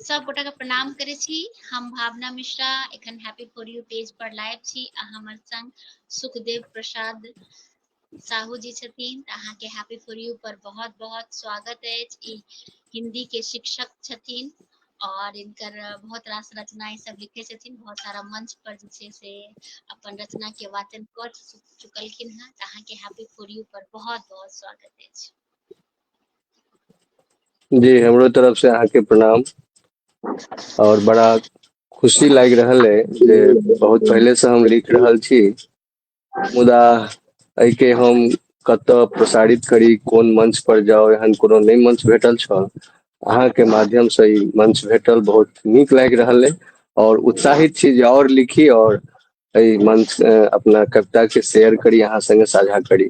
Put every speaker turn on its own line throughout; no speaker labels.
सब गोटा के प्रणाम करे छी हम भावना मिश्रा एखन हैप्पी फॉर यू पेज पर लाइव छी आ हमर संग सुखदेव प्रसाद साहू जी छथिन तऽ अहाँ के हैप्पी फॉर यू पर बहुत बहुत स्वागत अछि ई हिंदी के शिक्षक छथिन और इनकर बहुत रास रचना ई सब लिखे छथिन बहुत सारा मंच पर जे छै से अपन रचना के वाचन कर चुकलखिन हैं तऽ अहाँ के हैप्पी फॉर यू पर बहुत बहुत स्वागत अछि
जी हमरो तरफ से अहाँके प्रणाम और बड़ा खुशी लाग रहल है जे बहुत पहले से हम लिख रहल छी मुदा एहिके हम कत प्रसारित करी कोन मंच पर जाओ एहन कोनो नहीं मंच भेटल छल अहाँके माध्यम से ई मंच भेटल बहुत नीक लाग रहल है और उत्साहित छी जे और लिखी और एहि मंच अपना कविता के शेयर करी अहाँ संगे साझा करी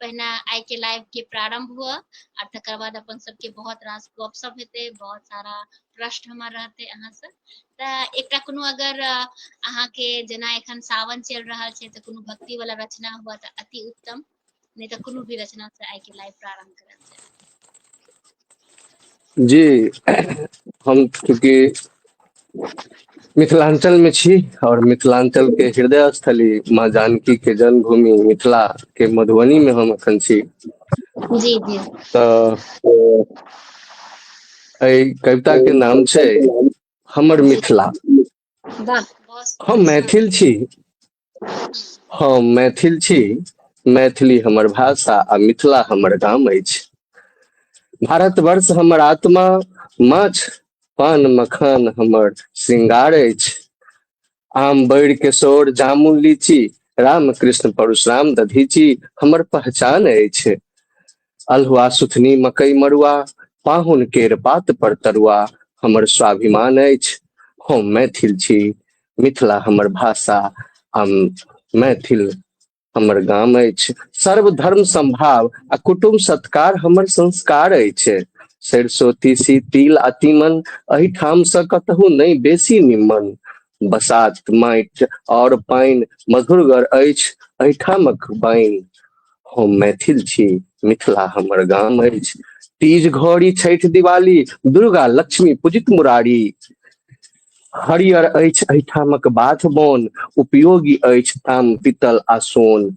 पहिने आइ के लाइव के प्रारंभ हुआ और तकर बाद अपन सबके बहुत रास गप सब हेते बहुत सारा प्रश्न हमर रहते अहाँ से त एकटा कोनो अगर अहाँ के जना एखन सावन चल रहा छे त कोनो भक्ति वाला रचना हुआ त अति उत्तम नहीं त कोनो भी रचना से आइ के लाइव प्रारंभ करल जाए
जी हम चूँकि मिथिलाञ्चल मे छी आओर मिथिलाञ्चल के हृदय स्थली माँ जानकी के जन्मभूमि मिथिला के मधुबनी मे हम एखन छी जी
जी तऽ
एहि कविता के नाम छै हमर मिथिला
हम मैथिल छी
हम मैथिल छी मैथिली हमर भाषा आ मिथिला हमर गाम अछि भारतवर्ष हमर आत्मा माछ पान मखान हमर श्रृंगार अछि आम बैर किशोर जामुन लीची रामकृष्ण परशुराम दधीची हमर पहचान अछि अलहुआ सुथनी मकई मड़ुआ पाहुन केर बात पर तरुआ हमर स्वाभिमान अछि हम मैथिल छी मिथिला हमर भाषा आ मैथिल हमर गाम अछि सर्व धर्म संभाव आ कुटुम सत्कार हमर संस्कार अछि सरिसो तीसी तिल आ तीमन एहिठामसँ कतहु नहि बेसी निम्मन बसात माटि और पानि मधुरगर अछि एहिठामक बाइन हम मैथिल छी मिथिला हमर गाम अछि तीज घड़ी छठि दिवाली दुर्गा लक्ष्मी पूजित मुरारी हरियर अछि एहिठामक बाथ बोन उपयोगी अछि ताम पीतल आ सोन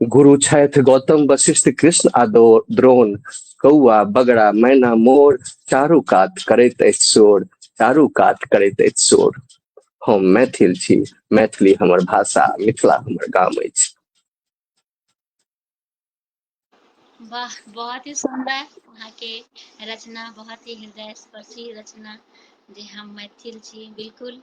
गुरु छैथ गौतम वशिष्ठ कृष्ण आ द्रोण कौआ बगड़ा मैना मोर चारू कात करैत अछि शोर चारू कात करैत अछि शोर हम मैथिल छी मैथिली हमर भाषा मिथिला हमर गाम अछि वाह बहुत ही सुंदर
अहाँ के रचना बहुत ही हृदय स्पर्शी रचना जे हम मैथिल छी बिल्कुल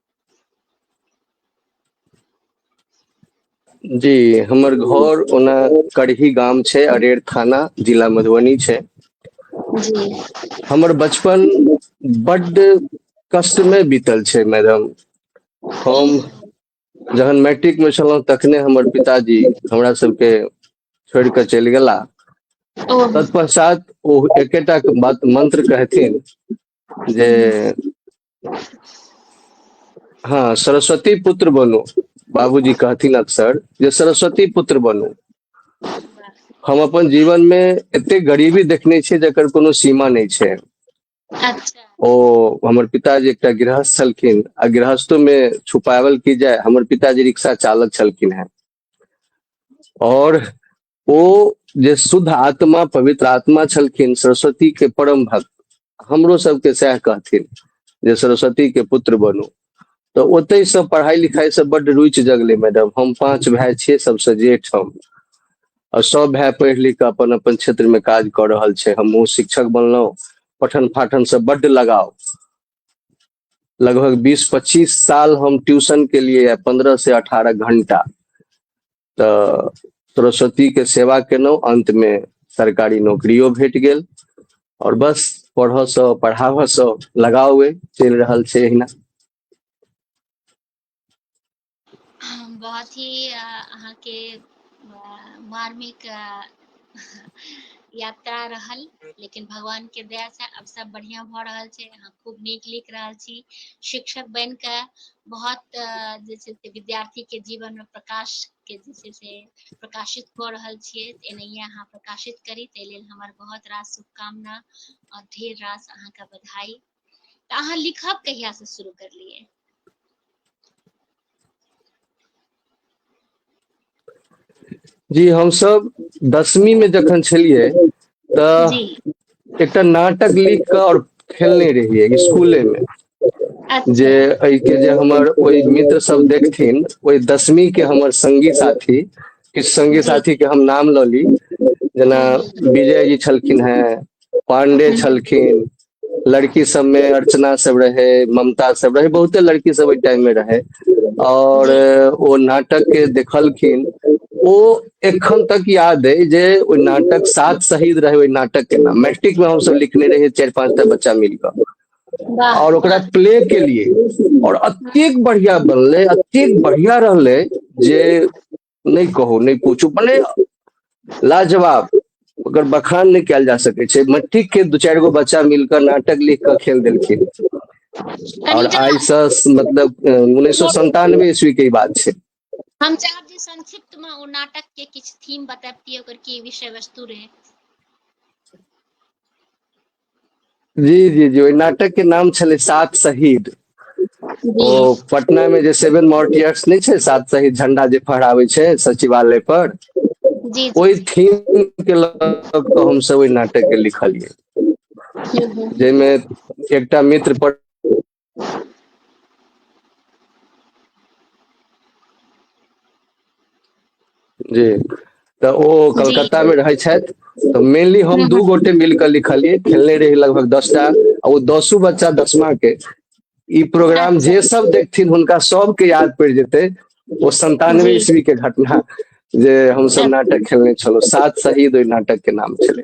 जी हमर घर ओना करही गाम छै अरेर थाना जिला मधुबनी छै जी
हमर
बचपन बड्ड कष्टमे बीतल छै मैडम हम जहन मैट्रिक में छलहुँ तखने हमर पिताजी हमरा सबके छोड़ कऽ चलि गेला
तत्पश्चात
ओ एकेटा बात मंत्र कहथिन जे हाँ सरस्वती पुत्र बनो बाबूजी कहथिन अक्सर जे सरस्वती पुत्र बनो हम अपन जीवन में एते गरीबी देखने छियै जकर कोनो सीमा नहीं छै अच्छा ओ हमर पिताजी एकटा गृहस्थ छलखिन आ गृहस्थो में छुपावल की जाय हमर पिताजी रिक्शा चालक छलखिन हैं और ओ जे शुद्ध आत्मा पवित्र आत्मा छलखिन सरस्वती के परम भक्त हमरो सबके सएह कहथिन जे सरस्वती के पुत्र बनू तऽ ओतहि से पढ़ाई लिखाई से बड्ड रुचि जगले मैडम हम पांच भाई छियै सबसे जेठ हम और सब भाई पढ़ि लिख कऽ अपन अपन क्षेत्र में काज कऽ रहल छै हमहूँ शिक्षक बनलहुँ पठन पाठन से बड्ड लगाव लगभग बीस पच्चीस साल हम ट्यूशन के लिए पंद्रह से अठारह घंटा तो सरस्वती के सेवा केलहुँ अंत में सरकारी नौकरियो भेट गेल और बस पढ़ऽ से पढ़ाबऽ से लगाव अइ, चलि रहल छै एहिना
बहुत ही अहाँके मार्मिक यात्रा रहल लेकिन भगवान के दया से अब सब बढ़िया भ रहल छै अहाँ खूब नीक लिख रहल छी शिक्षक बन के बहुत जे छै से विद्यार्थी के जीवन में प्रकाश के जे छै से प्रकाशित क रहल छियै एनहिए अहाँ प्रकाशित करी ताहि लेल हमर बहुत रास शुभकामना और ढेर रास अहाँके बधाई तऽ अहाँ
लिखब कहिया से शुरू करलियै जी हमसब दसमी में जखन छलियै तऽ
जी एकटा
नाटक लिख कऽ और खेलने रहियै स्कूले में जे अच्छा एहि के जे
हमर
ओहि मित्र सब देखथिन ओहि दसमी के हमर संगी साथी किछु संगी जी साथी के हम नाम लऽ
ली
जेना हम्म, विजय जी छलखिन हेँ पाण्डे हम्म, छलखिन लड़की सब में अर्चना सब रहे ममता सब रहे बहुते लड़की सब ओहि टाइम में रहे और ओ
नाटक के
देखलखिन ओ एखन तक याद है जे ओ नाटक सात शहीद रहे ओहि नाटक के नाम मैट्रिक में हम सब लिखने रहे चार पांच टा बच्चा मिलकर वाह और
ओकरा प्ले
के लिए और अत्येक बढ़िया बनले अत्येक बढ़िया रहले जे नहि कहू नहि पूछू मने लाजवाब ओकर बखान नहि कयल जा सकै छै मट्टी के दू चारि गो बच्चा मिलकर नाटक लिख कऽ खेल देलखिन और आई से
मतलब
उन्नीस सौ संतानवे ईस्वी के बात है हम चाहब
जे संक्षिप्त में ओ नाटक के किछ थीम बताबती ओकर की विषय वस्तु रहे
जी जी जी ओहि नाटक के नाम छलै सात शहीद
ओ
पटना में जे सेवन मॉर्टियर्स नहीं छे सात सही झंडा जे फहरावे छे सचिवालय पर ओहि
थीम के
लग हम सब ओहि नाटक के लिखलिए जाहिमे एकटा मित्र पर जी तऽ ओ जी कलकत्ता मे रहै
छथि
तऽ मेनली हम हँ दू हँ गोटे मिल कऽ लिखलियै खेलने रही लगभग दस टा आ ओ दसो बच्चा दसमा के ई प्रोग्राम अच्छा जे सब देखथिन
हुनका
सबके याद पड़ि जेतै ओ सन्तानवे जी ईस्वी के घटना जे हमसभ अच्छा नाटक खेलने छलहुँ सात शहीद ओहि नाटक के नाम छलै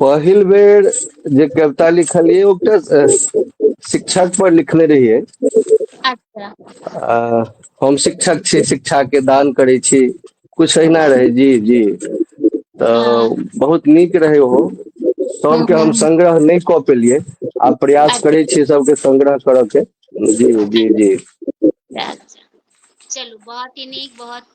पहिल बेर जे कविता लिखलियै ओकरा शिक्षक पर लिखने रहियै अच्छा आ, हम शिक्षक छी शिक्षा के दान करै छी कुछ अहिना रहै जी जी तऽ बहुत नीक रहै ओहो सबके हम संग्रह नहि कऽ
पेलियै
आ प्रयास करै छी सबके
संग्रह
करऽ के जी जी जी अच्छा चलू बहुत ही नीक
बहुत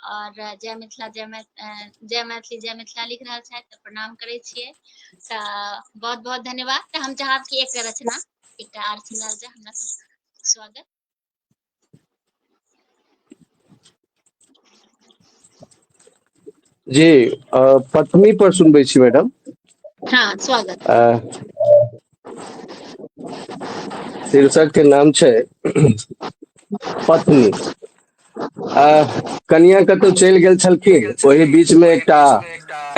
और जय मिथिला जय जय मैथिली जय मिथिला लिख रहा है तो प्रणाम करे छे तो बहुत बहुत धन्यवाद तो हम चाहब कि एक रचना एक आर सुनाल जाए हमरा सब स्वागत
जी पत्नी पर सुनबे छी मैडम हाँ स्वागत शीर्षक के नाम छे पत्नी आ कनियाँ कतहु चलि गेल छलखिन ओहि बीचमे एकटा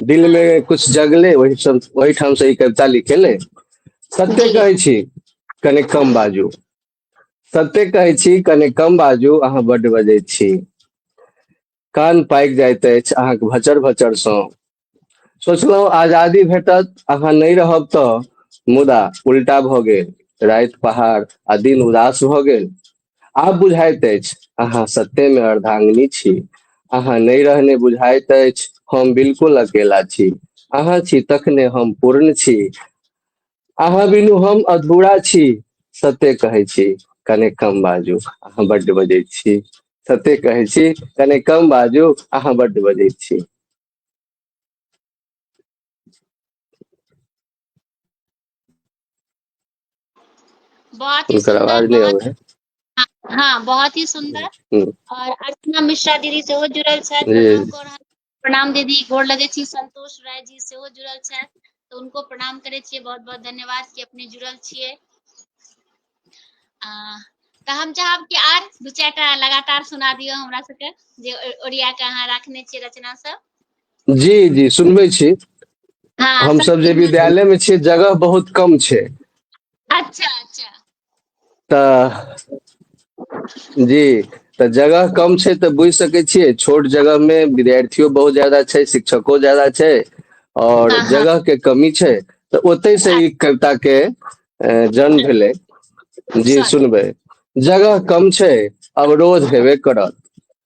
दिलमे कुछ
जगलै ओहि
सब ओहिठामसँ ई कविता लिखेलै सत्य जी कहै छी
कनि
कम बाजू सत्य कहै छी कनि कम बाजू अहाँ बड्ड बजै छी कान पाकि जाइत अछि अहाँके भचर भचरसँ सोचलहुँ आजादी भेटत अहाँ नहि रहब तऽ मुदा उल्टा भऽ गेल राति पहाड़ आ दिन उदास भऽ गेल आब बुझाइत अछि अहाँ सत्य में अर्धांगिनी छी अहाँ नहीं रहने बुझाइत अछि हम बिल्कुल अकेला छी अहाँ छी तखने हम पूर्ण छी अहाँ बिनु हम अधूरा छी सत्य कहै छी कने कम बाजू अहाँ बड्ड बजै छी सत्य कहै छी कने कम बाजू अहाँ बड्ड बजै छी
बहुत ही सुंदर बहुत हाँ,
हाँ
बहुत ही सुंदर हम्म, हम्म। और
अर्चना
मिश्रा दीदी से हो जुड़ल छथि
प्रणाम
दीदी गोर लगे छी संतोष राय जी से हो जुड़ल छथि तो उनको प्रणाम करे छे बहुत बहुत धन्यवाद कि अपने जुड़ल छे तो हम चाहब कि आर दू चार लगातार सुना दियो हमरा सबके जे ओरिया के अहाँ रखने छे रचना सब जी जी
सुनबे छी हाँ, हम
सब जे विद्यालय
में छे जगह बहुत कम छे अच्छा
अच्छा तऽ
जी तऽ जगह कम छै तऽ बुझि सकै छियै छोट जगह मे विद्यार्थियो बहुत जादा छै शिक्षको जादा छै आओर हँ हँ
जगह
के कमी
छै
तऽ ओतहि से ई कविता के जन्म भेलै जी अच्छा सुनबै
जगह
कम छै अवरोध हेबे करत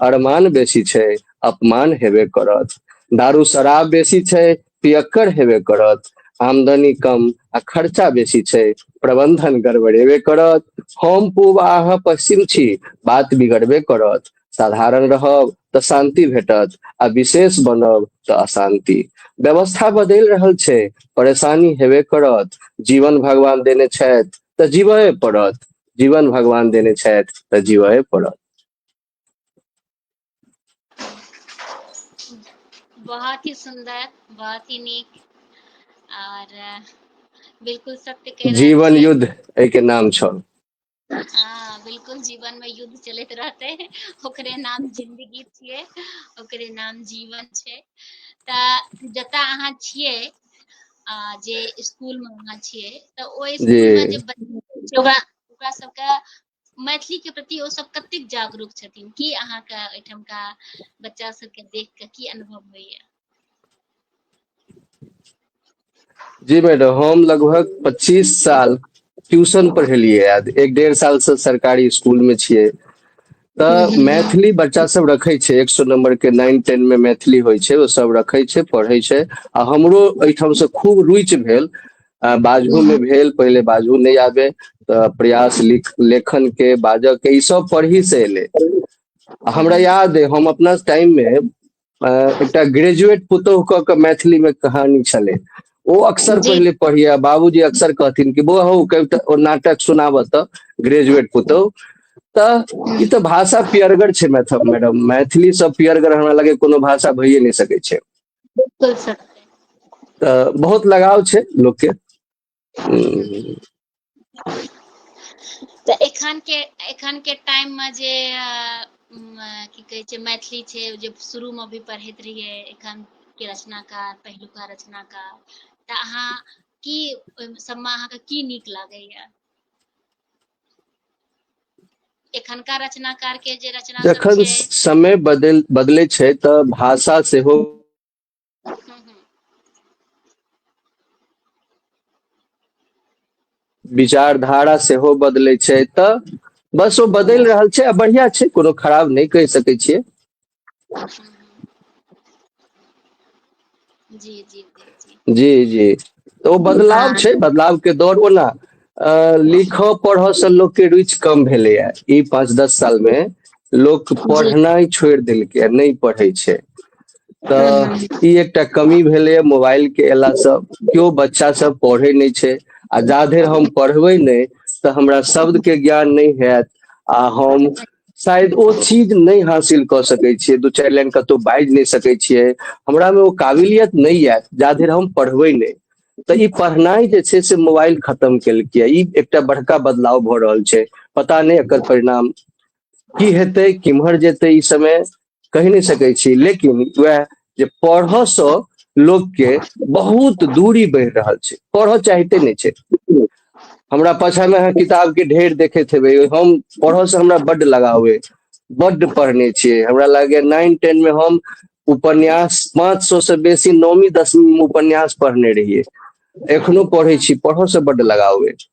अरमान बेसी छै अपमान हेबे करत दारू शराब बेसी छै पियक्कर हेबे करत आमदनी कम आ खर्चा बेसी छै प्रबंधन गड़बड़ेबे करत हम पूर्व आह पश्चिम छी बात बिगड़बे करत साधारण रहब तऽ शांति भेटत आ विशेष बनब तऽ अशांति व्यवस्था बदलि रहल छै परेशानी हेबे करत जीवन भगवान देने छथि तऽ जीवए पड़त जीवन भगवान देने छथि तऽ जीवए पड़त
बहुत ही सुंदर बहुत ही नीक और अ, बिल्कुल सत्य कह रहल जीवन छी युद्ध एहि के
नाम छौ हाँ
बिल्कुल जीवन में युद्ध चलैत रहते ओकरे नाम जिंदगी छिए ओकरे नाम जीवन छै तऽ जतऽ अहाँ छिए आ जे स्कूल में अहाँ छिए तऽ ओहि स्कूल में जे जी बच्चा सब छै ओकरा ओकरा सबके मैथिली के प्रति ओ सब कते जागरूक छथिन की अहाँ के एठम का बच्चा सब के देख के की अनुभव होइए
जी मैडम हम लगभग 25 साल ट्यूशन पढ़ेलिए आज एक डेढ़ साल से सरकारी स्कूल में छिए तऽ हम्म। मैथिली बच्चा
सब रखे
छे एक सौ नंबर के नाइन टेन में मैथिली होइ छे ओ सब रखे छे पढ़े छे आ हमरो एठाम से खूब रुचि भेल आ बाजहो मे भेल पहिले बाजहो नहि आबे तऽ प्रयास लिख लेखन के बाजऽ के ई सब पढ़ी से एलै आ हमरा याद अइ हम अपना टाइम मे अ, एकटा ग्रेजुएट पुतोह कऽ के मैथिली मे कहानी छलै ओ अक्सर जी। पहिले पढ़िया
बाबूजी
अक्सर कहथिन कि बौआ हौ कविता ओ नाटक सुनाबऽ तऽ ग्रेजुएट पुतोह तऽ ई तऽ भाषा पियरगर छै मैथ मैडम मैथिली सब पियरगर हमरा लगे कोनो भाषा भइए नहि सकै छै बिल्कुल सर
तऽ
बहुत लगाव छै लोकके
हम्म, तऽ एखन के एखन के टाइम में जे अ, म, अ, की कहै छै मैथिली छै जे शुरू में भी पढ़ैत रहियै एखन के रचनाकार पहिलुका रचनाकार तऽ अहाँ की ओहि सबमे अहाँके की नीक लागैया एखनका रचनाकार के जे रचना सब जखन छै समय
बदल बदलै छै तऽ भाषा सेहो हम्म, हम्म, विचारधारा सेहो बदलै छै तऽ बस ओ बदलि रहल छै आ बढ़िया छै कोनो खराब नहि कहि सकै छियै
जी जी जी जी तऽ ओ बदलाव
हँ छै बदलाव
के दौर
वला अ लिखऽ पढ़ऽ से लोक के रुचि कम भेलैए ई पाँच दस साल मे लोक जी पढ़नाइ
छोड़ि देलकै
आ नहि पढ़ै छै हूँ तऽ हूँ ई एकटा
कमी
भेलैए मोबाइल के अयला सँ केओ बच्चा सब पढ़ै नहि छै आ जा धरि हम पढ़बै नहि तऽ हमरा शब्द के ज्ञान नहि हयत आ हम शायद ओ चीज नहि हासिल कऽ सकै छियै दू चारि लाइन कतहु बाजि नहि सकै छियै हमरामे ओ काबिलियत नहि आयत जा धरि हम पढ़बै नहि तऽ ई पढ़नाइ जे छै से मोबाइल खत्म केलकै ई एकटा बड़का बदलाव भऽ रहल छै पता नहि एकर परिणाम की हेतै किम्हर जेतै ई समय कहि नहि सकै छी लेकिन वह जे पढ़ऽ से लोग के बहुत दूरी बढ़ि रहल छै पढ़ऽ चाहते नहि छै हमरा पाछा में अहाँ किताब के ढेर देखैत हेबै हम पढ़ऽ से हमरा बड्ड लगाव अइ बड्ड पढ़ने छियै हमरा लागैए नाइन टेन में हम उपन्यास पाँच सौ से बेसी नौवीं दसवीं में उपन्यास पढ़ने रहियै एखनो पढ़ै छी पढ़ऽ से बड्ड लगाव अइ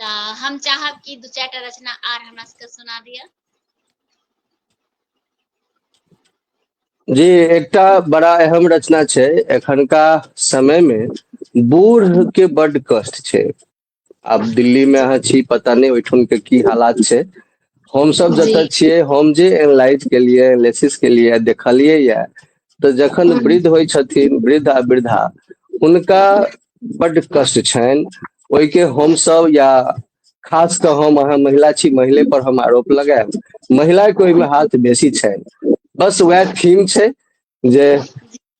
तऽ हम चाहब कि दू चारि
टा रचना आर हमरा सबके सुना दिअ जी एकटा बड़ा अहम रचना छै एखनका समय मे बूढ़ के बड कष्ट छै आब दिल्ली मे अहाँ छी पता नहि
ओहिठाम
के की हालात छै हम सब जी जतऽ छियै हम
जे
एनालाइज केलियै लेसिस केलियै देखलियै या तऽ जखन हूँ वृद्ध होइ छथिन वृद्ध आ वृद्धा हुनका बड्ड कष्ट छनि ओहिके हमसभ या खास कऽ हम अहाँ महिला छी महिले पर हम आरोप लगायब महिलाके ओहिमे हाथ बेसी छनि बस उएह थीम छै जे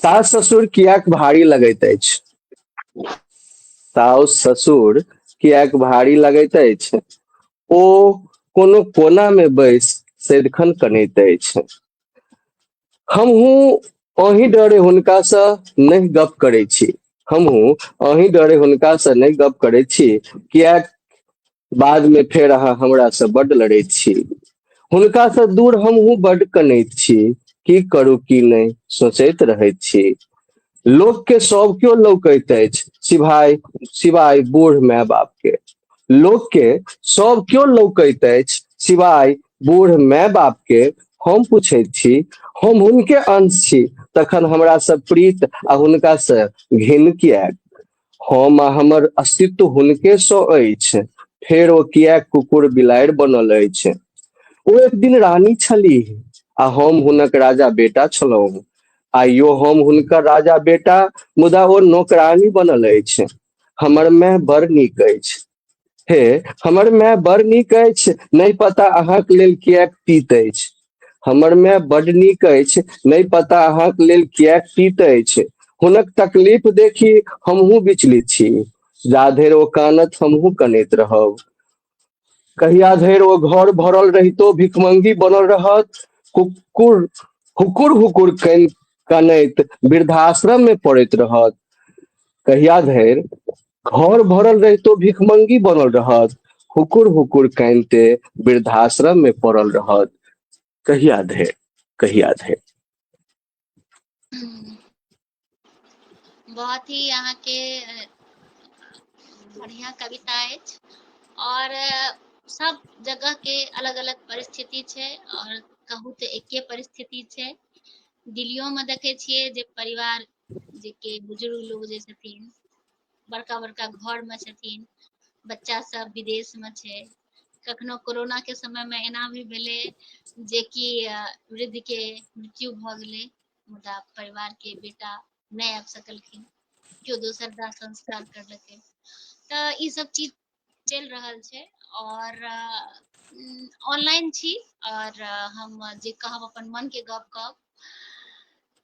सास ससुर कियाक भारी लगैत अछि साउस ससुर कियाक भारी लगैत अछि ओ कोनो कोना मे बैस सदिखन कनैत अछि हमहूँ अही डरे हुनकासँ नहि गप करै छी हमहूँ अही डरे हुनकासँ नहि गप करै छी कियाक बाद में फेर अहाँ हमरा से बड लड़ैत छी हुनका से दूर हम हूँ बड कनैत छी की करू की नहीं सोचैत रहैत छी लोक के सब क्यों लौकैत अछि सिवाय सिवाय बूढ़ माय बाप के लोक के सब क्यों लौकैत अछि सिवाय बूढ़ माय बाप के हम पूछैत छी हम हुनके अंश छी तखन हमरा से प्रीत आ हुनका से घिन किएक हम आ हमर अस्तित्व हुनके सँ अछि फेर ओ किया कुकुर बिलाड़ि बनल अछि ओ एक दिन रानी छलीह आ हम हुनक राजा बेटा छलहुँ आइयो हम हुनकर राजा बेटा मुदा ओ नौकरानी बनल अछि हमर माय बड़ नीक अछि हे हमर माय बड़ नीक अछि नहि पता अहाँके लेल किएक पीत अछि हमर माय बड नीक अछि नहि पता अहाँके लेल किएक पीत अछि हुनक तकलीफ देखी हमहूँ विचलित छी जा धरि ओ कानत हमहूँ कनैत रहब कहिया धरि ओ घर भरल रहितो भिखमंगी बनल रहत कुकुर हुकुर हुकुर कन कनैत वृद्धाश्रम में पड़ैत रहत कहिया धरि घर भरल रहितो भिखमंगी बनल रहत हुकुर हुकुर कानते वृद्धाश्रम में पड़ल रहत कहिया धे कहिया धे
बहुत ही यहाँ के बढ़िया कविता है और सब जगह के अलग अलग परिस्थिति छे और कहू तो एके परिस्थिति छे दिल्लियों में देखे छे जे परिवार जे के बुजुर्ग लोग जे छथिन बड़का बड़का घर मे छथिन बच्चा सब विदेश मे छै कखनो कोरोना के समय मे एना भी भेलै जेकि वृद्ध के मृत्यु भऽ गेलै मुदा परिवार के बेटा नहि आबि सकलखिन केओ दोसर दाह संस्कार करलकै तऽ ई सब चीज चलि रहल छै और ऑनलाइन छी और हम जे कहब अपन मन के गप कहब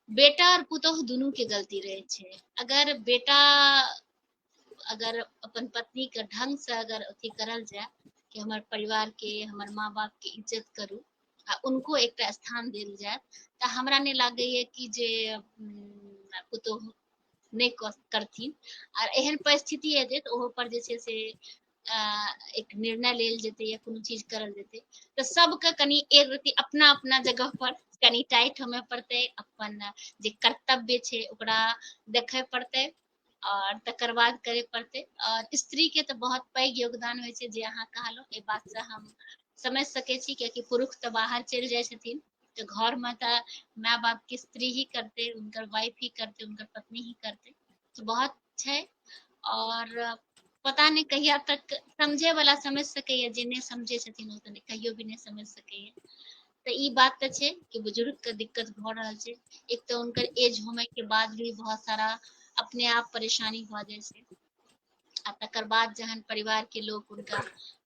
बेटा और पुतोह दुनू के गलती रहे छै अगर बेटा अगर अपन पत्नी के ढंग से अगर अथी करल जाए कि हमर परिवार के हमर माँ बाप के इज्जत करू आ उनको एकटा स्थान देल जाए तऽ हमरा नहि लागैए कि जे पुतोह नहि करथिन आर एहन परिस्थिति हेतै तऽ ओहो पर जे छै से एक निर्णय लेल जेतै या कोनो चीज करल जेतै तऽ सबके कनि एक रति अपना अपना जगह पर कनि टाइट होमे पड़तै अपन जे कर्तव्य छै ओकरा देखय पड़तै और तकर बाद करे पड़ते और स्त्री के तो बहुत पैघ योगदान हो जे अहाँ कहलो ए बात से हम समझ सके छी कियाकि पुरुष तो बाहर चल जाए तऽ घर में तऽ माय बाप के स्त्री ही करते उनकर वाइफ ही करते उनकर पत्नी ही करते तऽ बहुत छै और पता नहि कहिया तक समझे वाला समझ सकैया जे नहि समझे छथिन ओ तऽ कहियो भी नहि समझ सकैया तऽ ई बात तऽ छै कि बुजुर्ग के दिक्कत भऽ रहल छै एक तऽ उनकर एज होमे के बाद भी बहुत सारा अपने आप परेशानी भऽ जाइ छै आ तकर बाद जहन परिवार के लोग उनका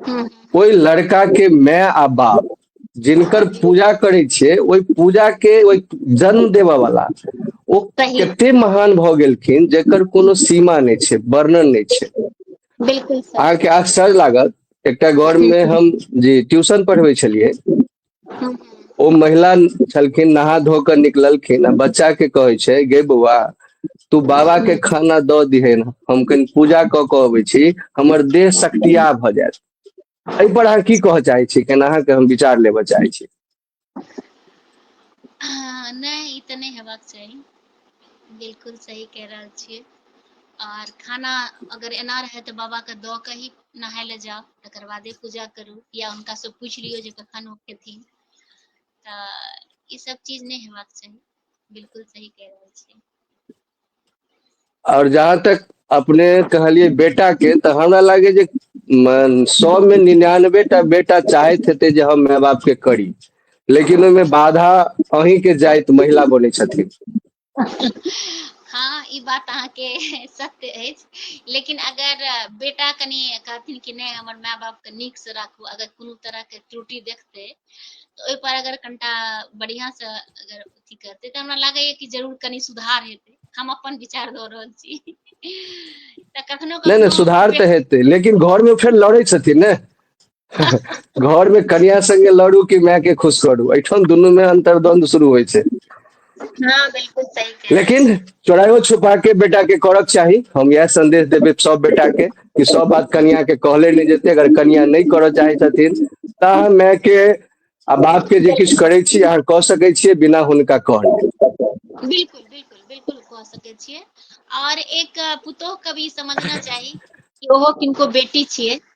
हूँ
ओहि लड़का
के माय आ बाप जिनकर पूजा करै छै ओहि पूजा के ओहि जन्म देबऽ वाला ओ सही। कते महान
भऽ
गेलखिन जेकर कोनो सीमा नहि छै वर्णन नहि छै बिल्कुल सर
अहाँके आश्चर्य लागत
एकटा घर मे हम जी ट्यूशन पढ़बै छलियै
हूँ ओ महिला
छलखिन नहा धो कऽ निकललखिन आ बच्चा के कहै छै गे बौआ तू बाबा के खाना द दिहे ने हम कनि पूजा कऽ कऽ अबै छी हमर देह सक्तिया भऽ जायत एहिपर अहाँ की कहऽ चाहै छी केना अहाँके हम विचार लेबऽ चाहै छी
हँ, नहि ई तऽ नहि हेबाक चाही बिलकुल सही कहि रहल छियै आर खाना अगर एना रहै तऽ बाबाके दऽ कऽ ही नहाय लए जाउ तकर बादे पूजा करू या हुनकासँ पूछि लियौ जे कखन ओ खेथिन तऽ ई सब चीज नहि हेबाक चाही बिलकुल सही कहि रहल छियै
और जहाँ तक अपने कहलिए बेटा के तऽ हमरा लागे जे सौ में निन्यानवे टा बेटा चाहैत हेतै जे हम माय बाप के करी लेकिन ओहिमे बाधा अहीं के जाइत महिला बने छथिन हँ
ई बात अहाँके सत्य अछि लेकिन अगर बेटा कनि कहथिन कि नहि हमर माय बापके नीकसँ राखू अगर कोनो तरहके त्रुटि देखतै तऽ ओहिपर अगर कनिटा बढ़िआँसँ अगर अथी करतै तऽ हमरा लागैए कि जरूर कनि सुधार हेतै हम अपन विचार दऽ रहल छी तऽ कखनो नहि नहि कखनो सुधार तऽ बेट-
हेतै लेकिन घरमे फेर लड़ै छथिन ने घर में कन्या संगे लड़ू कि माय के खुश करू एठाम दुनू में अंतर्द्वंद शुरू होय छै हाँ बिल्कुल सही कह
लेकिन चोरायो
छुपा
के
बेटा के करक चाही हम यह संदेश देबे सब बेटा के कि सब बात कन्या के कहले नहीं जेते अगर कन्या नहीं करऽ चाहे छथिन ता माय के आ बाप के जे किछु करै छी अहाँ कऽ सकै छियै बिना हुनका कहने बिल्कुल बिल्कुल
बिल्कुल कह सके छिए और एक अ, पुतोह के भी समझना चाहिए कि ओहो किनको बेटी छिए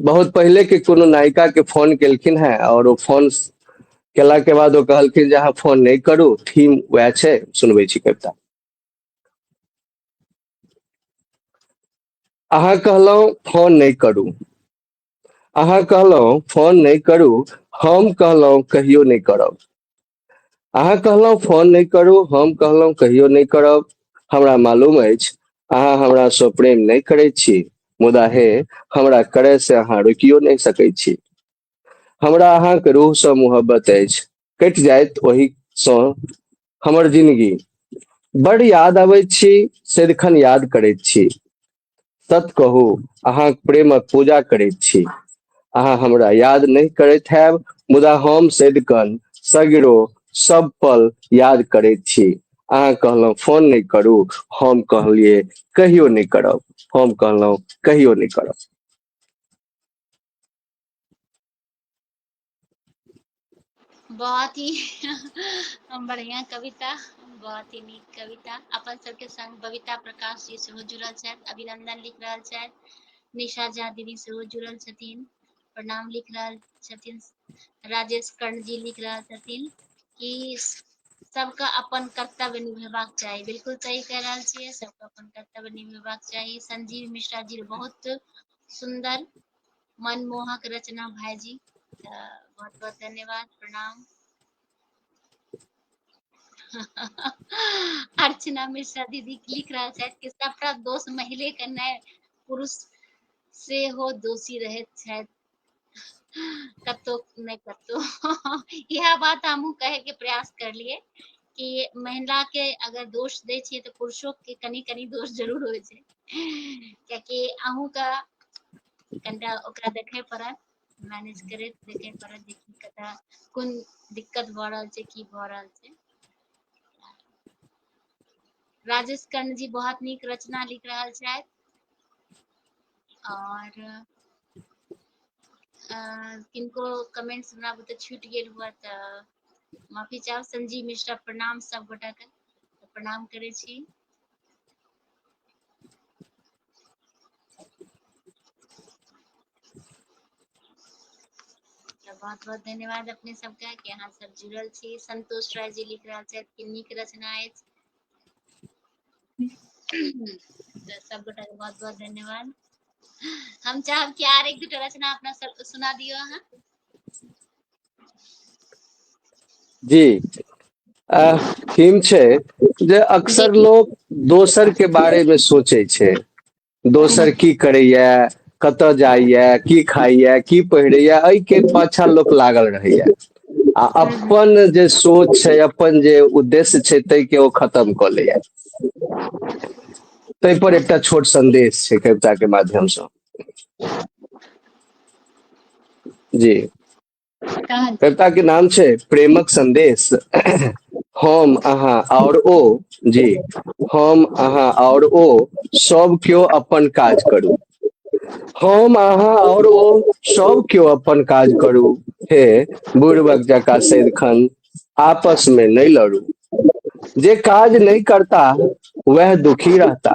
बहुत पहिले के कोनो नायिका के फोन केलखिन हैं और ओ फोन केला के बाद ओ कहलखिन जे अहाँ फोन नहीं करू थीम वह छै सुनबे छी कविता अहाँ कहलहुँ फोन नहीं करू अहाँ कहलहुँ फोन नहीं करू हम कहलहुँ कहियो नहीं करब अहाँ कहलहुँ फोन नहि करू हम कहलहुँ कहियो नहि करब हमरा मालूम अछि अहाँ हमरा सँ प्रेम नहि करैत छी मुदा हे हमरा करे से अहाँ रोकियो नहि सकैत छी हमरा अहाँके रूह सँ मोहब्बत अछि कटि जायत ओहि सँ हमर जिंदगी बड़ याद अबैत छी सदिखन याद करैत छी सत कहू अहाँ प्रेमक पूजा करैत छी अहाँ हमरा याद नहि करैत हैब मुदा हम सदिकन सगरो सब पल याद करैत छी अहाँ कहलहुँ फोन नहि करू हम कहलिए कहियो नहि करब हम कहलहुँ कहियो नहि करब
बहुत ही बढ़िया कविता बहुत ही नीक कविता अपन सबके संग बबीता प्रकाश जी सेहो जुड़ल छथि अभिनंदन लिख रहल छथि निशा झा दीदी सेहो जुड़ल छथिन प्रणाम लिख रहल छथिन राजेश कर्ण जी लिख रहल छथिन कि सबके अपन कर्तव्य निभेबाक चाही बिल्कुल सही कह रहल छियै सबके अपन कर्तव्य निभेबाक चाही संजीव मिश्रा जी बहुत सुंदर मनमोहक रचना भाईजी तऽ बहुत बहुत धन्यवाद प्रणाम अर्चना मिश्रा दीदी लिख रहल छथि कि सबटा दोष महिले के नहि पुरुष सेहो दोषी रहैत छथि कतहु नहि कतहु इएह बात हमहूँ कहैके प्रयास करलियै कि महिला के अगर दोष दै छियै तऽ पुरुषो के कनि कनि दोष जरूर होइ छै कियाकि अहूँ के कनिटा ओकरा देखय पड़त मैनेज करैत देखय पड़त जे की कतऽ कोन दिक्कत भऽ रहल छै की भऽ रहल छै राजेश कर्ण जी बहुत नीक रचना लिख रहल छथि और अ, किनको कमेंट्स हमरा बुते छूट गेल हुआ तऽ माफी चाहब संजीव मिश्रा प्रणाम सब गोटा के प्रणाम करे छी बहुत बहुत धन्यवाद अपने सबका कि अहाँ सब जुड़ल छी संतोष राय जी लिख रहा छथि कि नीक रचना अछि तऽ सब गोटा के बहुत बहुत धन्यवाद हम चाहब कि आर एक दूटा रचना अपना सब सुना दियो अहाँ
जी थीम छै जे अक्सर लोक दोसर के बारे मे सोचै छै दोसर की करैया कतय जाइया की खाइया की पहिरैया एहि के पाछा लोक लागल रहैया आ अपन जे सोच छै अपन जे उद्देश्य छै ताहि के ओ खतम कऽ लैया ताहि पर एकटा छोट संदेश छै कविता के माध्यम से जी कविता के नाम छै प्रेमक संदेश हम अहाँ और ओ जी हम अहाँ और ओ सब क्यों अपन काज करू हम अहाँ और ओ सब क्यों अपन काज करू हे बुढ़बक जका सैदखन आपस में नहीं लड़ू जे काज नहीं करता वह दुखी रहता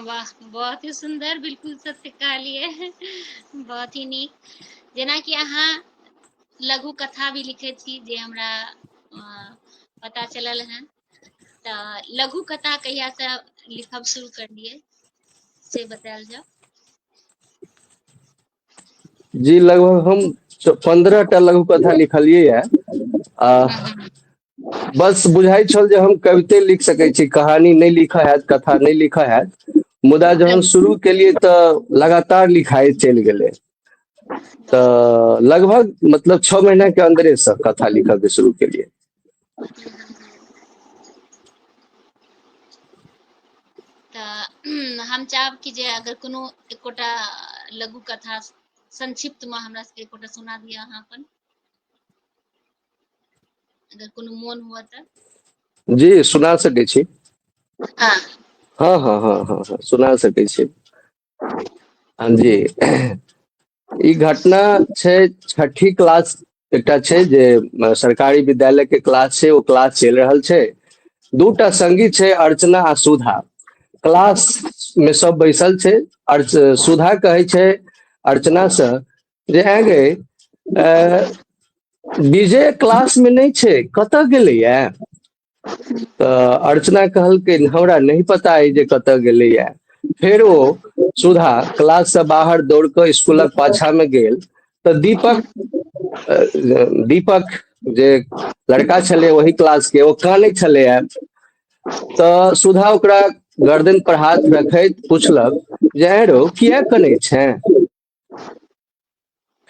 वाह बहुत ही सुंदर बिल्कुल सत्य कहलिए बहुत ही नीक जेनाकि अहाँ लघु कथा भी लिखे छी जे हमरा पता चलल है तऽ लघु कथा कहिया से लिखब शुरू कर दिए से बतायल जाओ
जी लगभग हम पंद्रह टा लघु कथा लिखलिए है आ हम्म, हम्म। बस बुझाइ छल जे हम कविते लिख सकैत छी कहानी नहि लिखा हैत कथा नहि लिखा हैत मुदा जहन शुरू केलिए तऽ लगातार लिखाई चलि गेलै तऽ लगभग मतलब छः महीना के अंदरे से कथा लिखा के शुरू के लिए हम चाहब
कि जे अगर कोनो एकोटा लघु कथा संक्षिप्त में हमरा सबके एकोटा सुना दिया अहाँ अपन अगर कोनो मोन हुआ तऽ जी
सुना सकै छी हाँ हाँ
हाँ हाँ
हाँ हाँ, सुना सकै छी हाँ जी ई घटना छै छठी क्लास एकटा छै जे अ, सरकारी विद्यालय के क्लास छै ओ क्लास चलि रहल छै दूटा संगी छै अर्चना आ सुधा क्लास में सब बैसल छै अर्च सुधा कहै छै अर्चना से जे है गे विजय क्लास में नहीं छे कत गलैया तऽ अर्चना कहलकै हमरा नहीं पता है जे कत गलैया फिर वो सुधा क्लास से बाहर दौड़ के स्कूल पाछा में गेल तो दीपक दीपक जे लड़का छले वही क्लास के वो काने छले तो सुधा ओकरा गर्दन पर हाथ रखैत पूछलक जे रो किया कने छे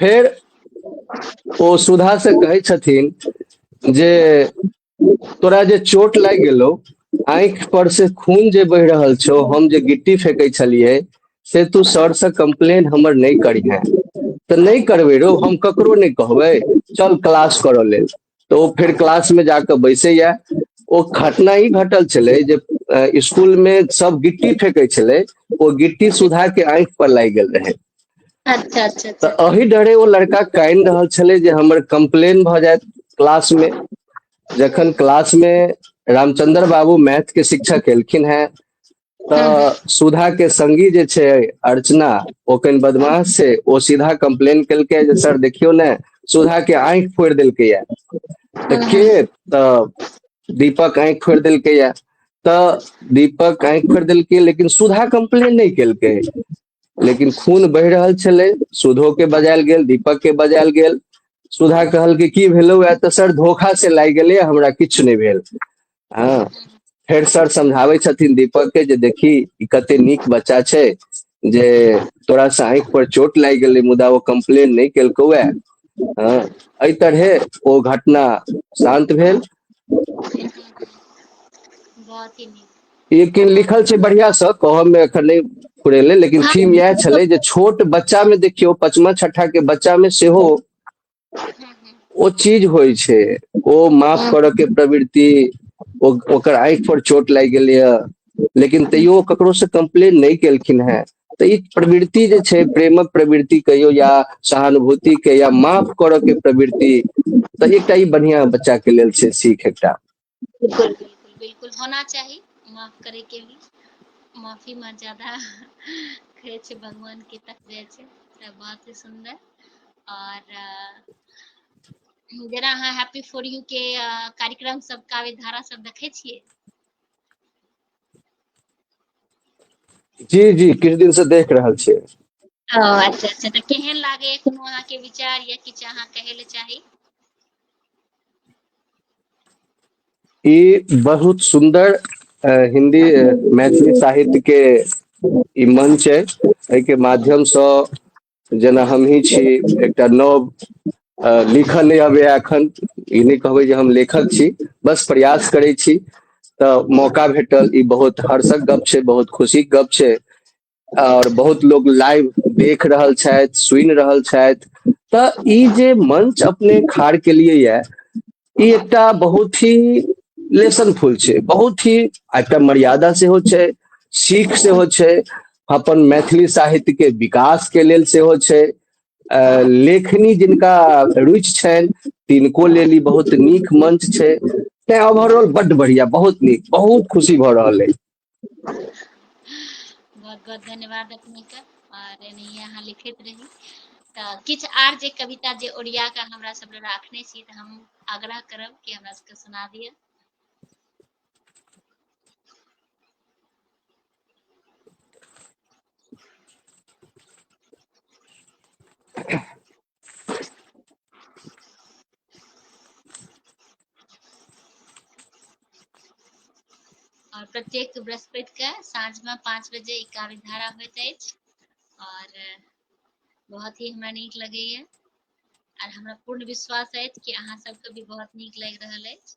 फेर ओ सुधा से कहै छथिन जे तोरा जे चोट लागि गेलो आंख पर से खून जे बहि रहल छो हम जे गिट्टी फेंकै छलिए से तू सर से कंप्लेन हमर नहीं करिहे तऽ नहीं करबे रो हम ककरो नहीं कहबे चल क्लास करऽ लेल तऽ ओ फेर क्लास में जाके बैसे या ओ घटना ई घटल छलै जे स्कूल में सब गिट्टी फेंके छलै ओ गिट्टी सुधा के आंख पर लागि गेल रहे अच्छा अच्छा
अच्छा तऽ अही डरे ओ लड़का
कानि रहल छलै जे हमर कंप्लेन भऽ जायत क्लास में जखन क्लास में रामचंद्र बाबू मैथ के शिक्षक एलखिन हैं हूँ हूँ तऽ
सुधा के
संगी जे छै अर्चना ओ कनि बदमाश छै ओ सीधा कम्प्लेन केलकै जे सर देखियौ ने सुधा के आँखि फोड़ि देलकै या तऽ हूँ के हूँ तऽ दीपक आँखि फोड़ि देलकै या तऽ दीपक आँखि फोड़ि देलकै लेकिन सुधा कम्प्लेन नहि केलकै लेकिन खून बहि रहल छलै सुधो के बजायल गेल दीपक के बजायल गेल सुधा कहल कि की भेलो वह तो सर धोखा से लागि गेलै हमरा किछु नहि भेल हाँ फेर सर समझावे छथिन दीपक के जे देखी ई कते नीक बच्चा छै जे तोरा से आँखि पर चोट लागि गेलै मुदा ओ कंप्लेन नहि केलकौ वह हाँ एहि तरहे ओ घटना शांत भेल
बहुत ही नीक लेकिन लिखल छै
बढ़िया से कहब में एखन नहीं फुरेले लेकिन हाँ, थीम यह छले जे
छोट
बच्चा में देखियो पचमा छठा के बच्चा में से हो ओ चीज होइ छै ओ माफ हाँ। करऽ के प्रवृत्ति ओकर आँखि पर चोट लागि गेलै लेकिन तैयो ककरो से कंप्लेन नहि केलखिन हेँ तऽ ई प्रवृत्ति जे छै प्रेमक प्रवृत्ति कहियो या सहानुभूति के या माफ करऽ के प्रवृत्ति तऽ एकटा ई बढ़िया बच्चा के लेल छै सीख एकटा बिल्कुल बिल्कुल
बिल्कुल होना चाही माफ करे के भी माफी में ज्यादा कहे छै भगवान के तक जाए छै तऽ बहुत ही सुंदर और अ, जेना अहाँ हैप्पी फॉर यू के अ, कार्यक्रम सब काव्य धारा सब देखै छियै
जी जी किछु दिन से देख रहल छियै ओ अच्छा
अच्छा तऽ केहन लागैए कोनो अहाँके विचार या किछु अहाँ कहै लए चाही
ई बहुत सुंदर अ, हिंदी अ, मैथिली साहित्य के ई मंच है एहिके माध्यम से जेना हमही छी एकटा नव लिखऽ नहि अबैया एखन ई नहि कहबै जे हम लेखक छी बस प्रयास करै छी तऽ मौका भेटल ई बहुत हर्षक गप छै बहुत खुशीक गप छै आओर बहुत लोग लाइव देख रहल छथि सुनि रहल छथि तऽ ई जे मंच अपने खाड़ केलियै यए ई एकटा बहुत ही लेसनफुल छै बहुत ही एकटा मर्यादा सेहो छै सीख सेहो छै अपन मैथिली साहित्य के विकास के लेल सेहो छै लेखनी जिनका रुचि छनि तिनको लेल ई बहुत नीक मंच छै तैं ओवरऑल बड्ड बढ़िया बहुत नीक बहुत खुशी भऽ रहल अछि
बहुत बहुत धन्यवाद अपने के और एनाहिए अहाँ लिखैत रही तऽ किछु आर जे कविता जे ओरिया कऽ हमरा सब लए राखने छी तऽ हम आग्रह करब कि हमरा सबके सुना दिअ और प्रत्येक बृहस्पति के साँझ में पाँच बजे इकावी धारा होत अछि और बहुत ही हमरा नीक लगैए और हमरा पूर्ण विश्वास अछि कि अहाँ सबके भी बहुत नीक लागि रहल अछि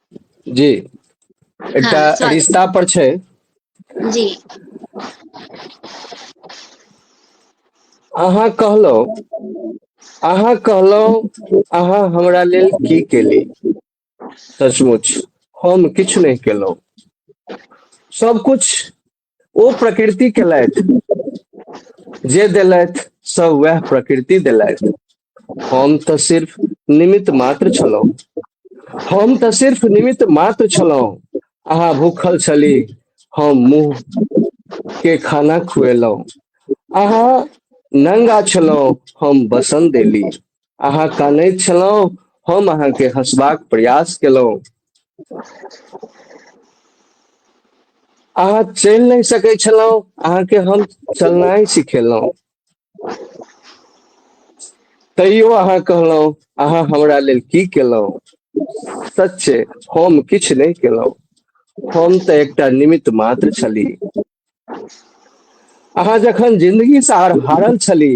जी एकटा हँ
स्वागत
रिश्ता पर
छै
जी अहाँ कहलहुँ अहाँ कहलहुँ अहाँ हमरा लेल की केली सचमुच हम किछु नहि केलहुँ सबकुछ ओ प्रकृति केलथि जे देलथि सब वह प्रकृति देलथि हम तऽ सिर्फ निमित्त मात्र छलहुँ हम तऽ सिर्फ निमित्त मात्र छलहुँ अहाँ भूखल छली हम मुंह के खाना खुएलहुँ अहाँ नंगा छलहुँ हम बसन देली अहाँ कानैत छलहुँ हम अहाँके हँसबाक प्रयास केलहुँ अहाँ चलि नहि सकैत छलहुँ अहाँके हम चलनाइ सिखेलहुँ तैयो अहाँ कहलहुँ अहाँ हमरा लेल की केलहुँ सच्चे हम किछु नहि केलहुँ हम तऽ एकटा निमित्त मात्र छली अहाँ जखन जिंदगी से हारल छली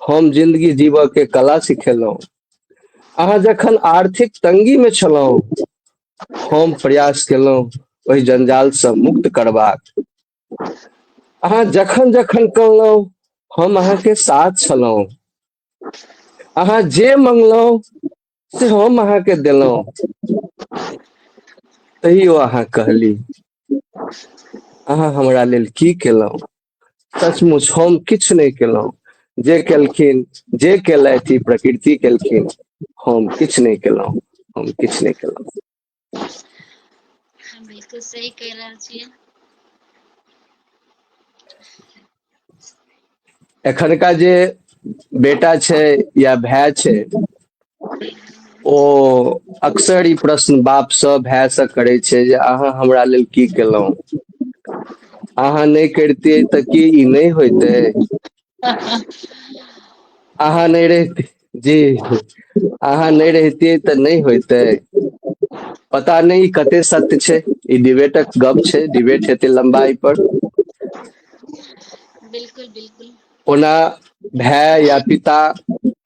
हम जिंदगी जीवऽ के कला सिखेलहुँ अहाँ जखन आर्थिक तंगी में छलहुँ हम प्रयास केलहुँ ओहि जंजाल से मुक्त करबाक अहाँ जखन जखन कहलहुँ हम अहाँ के साथ छलहुँ अहाँ जे मंगलहुँ से हम अहाँ के देलहुँ तैयो अहाँ कहली अहाँ हमरा लेल की केलहुँ सचमुच हम किछु नहि केलहुँ जे केलखिन जे केलथि प्रकृति केलखिन हम किछु नहि केलहुँ हम किछु नहि केलहुँ बिल्कुल
सही कह रहल छियै
एखनका जे बेटा छै या भाय छै ओ अक्सर ई प्रश्न बापसँ भायसँ करै छै जे अहाँ हमरा लेल की केलहुँ अहाँ नहि करितियै तऽ की ई नहि होयइतै अहाँ नहि रहित जी अहाँ नहि रहितियै तऽ नहि होयतै पता नहि ई कते सत्य छै ई डिबेटक गप छै डिबेट हेतै लम्बाइ पर
बिलकुल बिलकुल ओना
भाय या पिता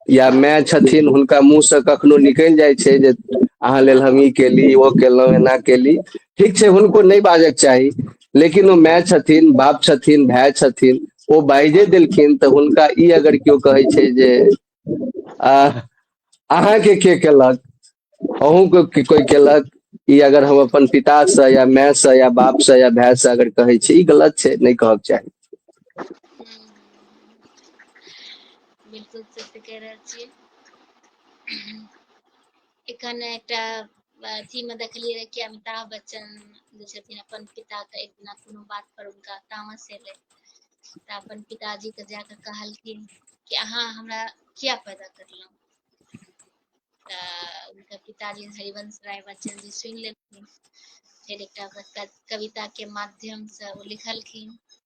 या माय छथिन हुनका मुंह से कखनो निकलि जाइ छै जे अहाँ लेल हम ई केली ओ केलहुँ एना केली ठीक छै हुनको नहि बाजक चाही लेकिन ओ माय छथिन बाप छथिन भाय छथिन ओ बाइजे देलखिन तऽ हुनका ई अगर केओ कहै छै जे आ अहाँके के केलक अहूँके के कोइ केलक ई अगर हम अपन पितासँ या मायसँ या बापसँ या भायसँ अगर कहै छी ई गलत छै नहि कहक चाही बिल्कुल सत्य कह रहल छियै
एखन एकटा अथी में देखलियै रहे कि अमिताभ बच्चन जे छथिन अपन पिता के एक दिना कोनो बात पर उनका तामस एलै तऽ अपन पिताजी के जाके कहलखिन कि अहाँ हमरा किया पैदा करलहुँ तऽ उनका पिताजी हरिवंश राय बच्चन जी सुनि लेलखिन फेर एकटा कविता के माध्यम से ओ लिखलखिन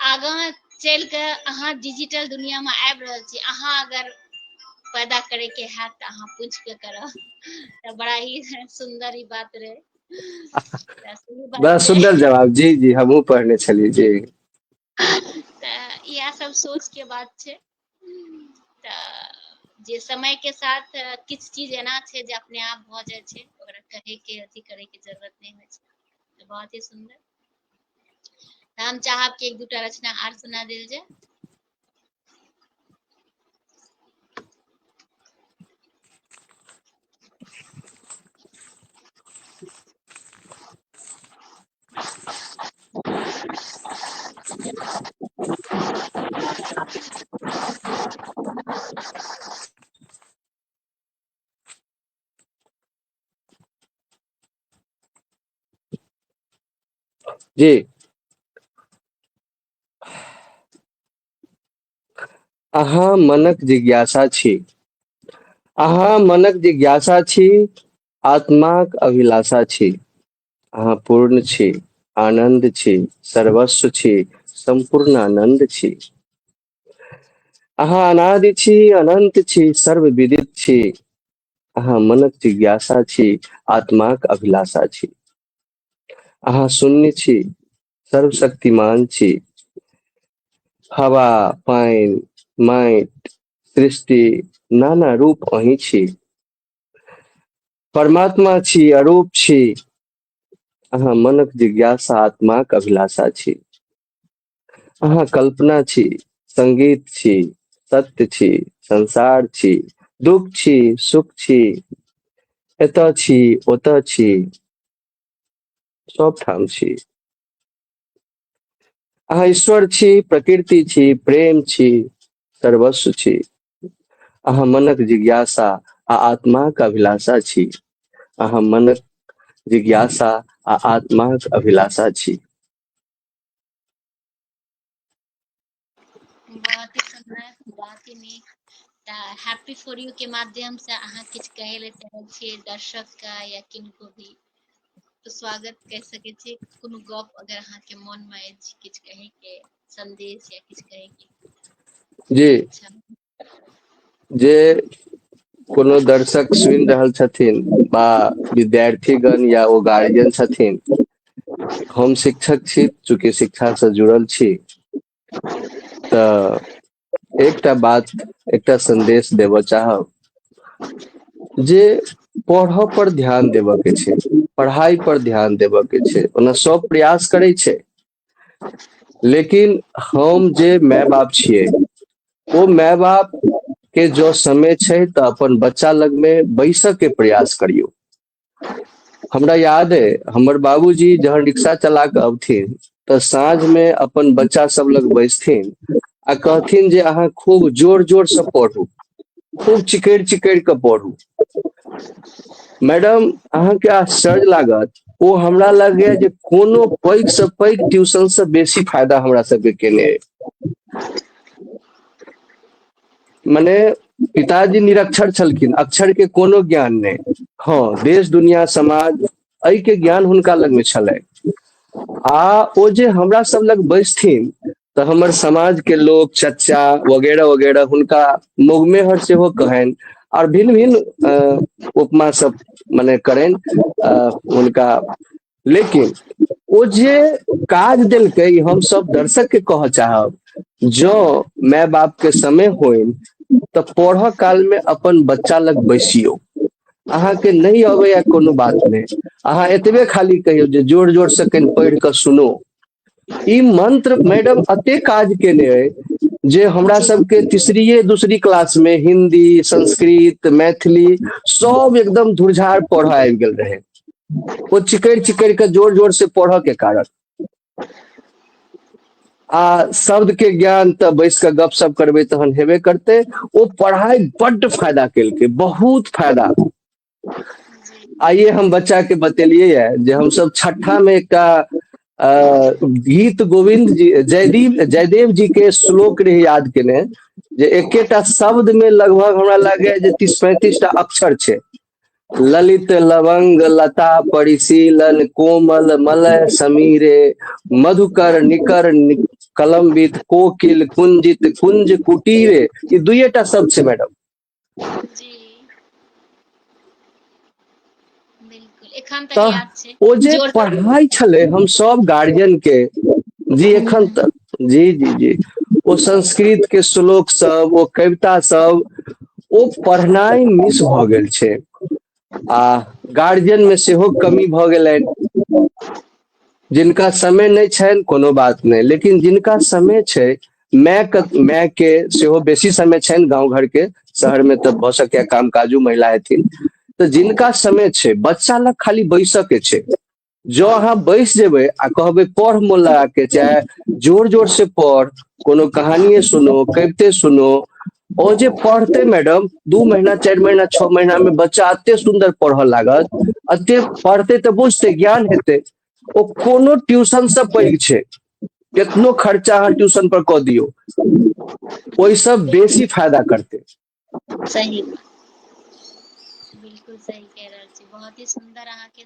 आगाँ चलि कऽ अहाँ डिजिटल दुनियामे आबि रहल छी अहाँ अगर पैदा करैके हैत तऽ अहाँ पूछि कऽ करब तऽ बड़ा ही सुन्दर ई बात रहै बड़ा सुन्दर जवाब जी जी
हमहूँ पढ़ने छलियै जी
तऽ इएह सब सोचके बात छै जे समय के साथ किछु चीज एना छै जे अपने आप भऽ जाइ छै ओकरा कहे के अथी करे के जरूरत नहि होइ छै तऽ बहुत ही सुंदर तऽ हम चाहब कि एक दूटा रचना आर सुना देल जाय
जी अहाँ मनक जिज्ञासा छी अहाँ मनक जिज्ञासा छी आत्माक अभिलाषा छी अहाँ पूर्ण छी आनंद छी सर्वस्व छी संपूर्ण आनंद छी अहाँ अनादि छी अनंत छी सर्व विदित छी अहाँ मनक जिज्ञासा छी आत्माक अभिलाषा छी अहाँ शून्य छी सर्वशक्तिमान छी हवा पानि माटि सृष्टि नाना रूप अही छी परमात्मा छी अरूप छी अहाँ मनक जिज्ञासा आत्माक अभिलाषा छी अहाँ कल्पना छी संगीत छी सत्य छी संसार छी दुख छी सुख छी एत छी ओत छी सब ठाम छी अहाँ ईश्वर छी प्रकृति छी प्रेम छी सर्वस्व छी अहाँ मनक जिज्ञासा आ आत्माक अभिलाषा छी अहाँ मनक जिज्ञासा आ आत्माक अभिलाषा छी
बहुत ही सुंदर बहुत ही नीक तऽ हैप्पी फॉर यू के माध्यम से अहाँ किछु कहै लए चाहै छियै दर्शक के या किनको भी तऽ स्वागत कहि सकै छी कोनो गप अगर अहाँके मोन मे अछि किछु कहै के संदेश या किछु कहै
के
जी
जे कोनो दर्शक सुनि रहल छथिन बा विद्यार्थीगण या ओ गार्जियन छथिन हम शिक्षक छी चूँकि शिक्षासँ जुड़ल छी तऽ एकटा बात एकटा संदेश देबऽ चाहब जे पढ़ऽ पर ध्यान देबऽ के छै पढ़ाई पर ध्यान देबऽ के छै ओना सब प्रयास करै छै लेकिन हम जे माय बाप छिए ओ माय बाप के जो समय छै तऽ अपन बच्चा लग में बैस के प्रयास करियो हमरा याद है हमर बाबूजी जहन रिक्शा चला के अबथिन तऽ साँझ में अपन बच्चा सब लग बैसथिन आ कहथिन जे अहाँ खूब जोर जोर से पढ़ू खूब चिकड़ चिकड़ के पढ़ू मैडम अहाँ के आश्चर्य लागत ओ हमरा लगे जे कोनो पैघ से पैघ ट्यूशन से बेसी फायदा हमरा सबके केने अइ। मने पिताजी निरक्षर छलखिन अक्षर के कोनो ज्ञान नहि हँ देश दुनिया समाज एहि के ज्ञान हुनका लग में छलै आ ओ जे हमरा सब लग बैसथिन तऽ हमर समाज के लोग चच्चा वगैरह वगैरह हुनका मुगमेहर सेहो कहनि और भिन्न भिन्न अ, उपमा सब मने करनि अ, हुनका लेकिन ओ जे काज देलकै ई हम सब दर्शक के कहऽ चाहब जो माय बाप के समय होइन तऽ पढ़ऽ काल में अपन बच्चा लग बैसियो अहाँके नहि अबैया कोनो बात नहि अहाँ एतबे खाली कहियौ जे जोर जोर से कनि पढ़ि कऽ सुनो ई मन्त्र मैडम एते काज केने अइ जे हमरा जी सबके तीसरीये दूसरी क्लास मे हिन्दी संस्कृत मैथिली सब एकदम धुरझार पढ़य आबि गेल रहै ओ चिकैर चिकैर कऽ जोर जोर से पढ़य के कारण आ शब्द के ज्ञान तऽ बैस कऽ गप सप करबै तहन हेबे करतै ओ पढ़ाइ बड्ड फायदा केलकै बहुत फायदा जी आइे हम बच्चा के बतेलियै य जे हमस छठा मे एकटा अ गीत गोविन्द जी जयदीप जयदेव जी के श्लोक रहे याद केने जे एकेटा शब्द मे लगभग हमरा लागैए जे तीस पैंतीस टा अक्षर छै ललित लवंग लता परिशीलन कोमल मलय समीरे मधुकर निकर कलम्बित कोकिल कुंजित कुंज कुटीरे ई दुएटा शब्द छै मैडम
तऽ ओ जे पढ़ाइ
छलै
हम
सब गार्जियन के जी एखन तक जी जी जी ओ संस्कृत के श्लोक सब ओ कविता सब ओ पढ़नाइ मिस भऽ गेल छै आ गार्जियनमे सेहो कमी भऽ गेलनि जिनका समय नहि छनि कोनो बात नहि लेकिन जिनका समय छै मायके मायके सेहो बेसी समय छनि गाँव घरके शहरमे तऽ भऽ सकैए काम काजो महिला हेथिन तऽ जिनका समय छै बच्चा लग खाली बैसयके छै जो अहाँ बैस जेबै आ कहबै पढ़ मोन लगा के चाहे जोर जोर से पढ़ कोनो कहानिये सुनो कविते सुनो ओ जे पढ़ते मैडम दू महीना चारि महीना छओ महीना में बच्चा अते सुंदर पढ़ऽ लागत अते पढ़ते तऽ बुझते ज्ञान हेतै ओ कोनो ट्यूशन से पैघ छै केतनो खर्चा अहाँ ट्यूशन पर कऽ दियौ ओहिसँ बेसी फायदा करतै सही
मे बिलकुल सही कह रहल छी बहुत ही सुन्दर अहाँके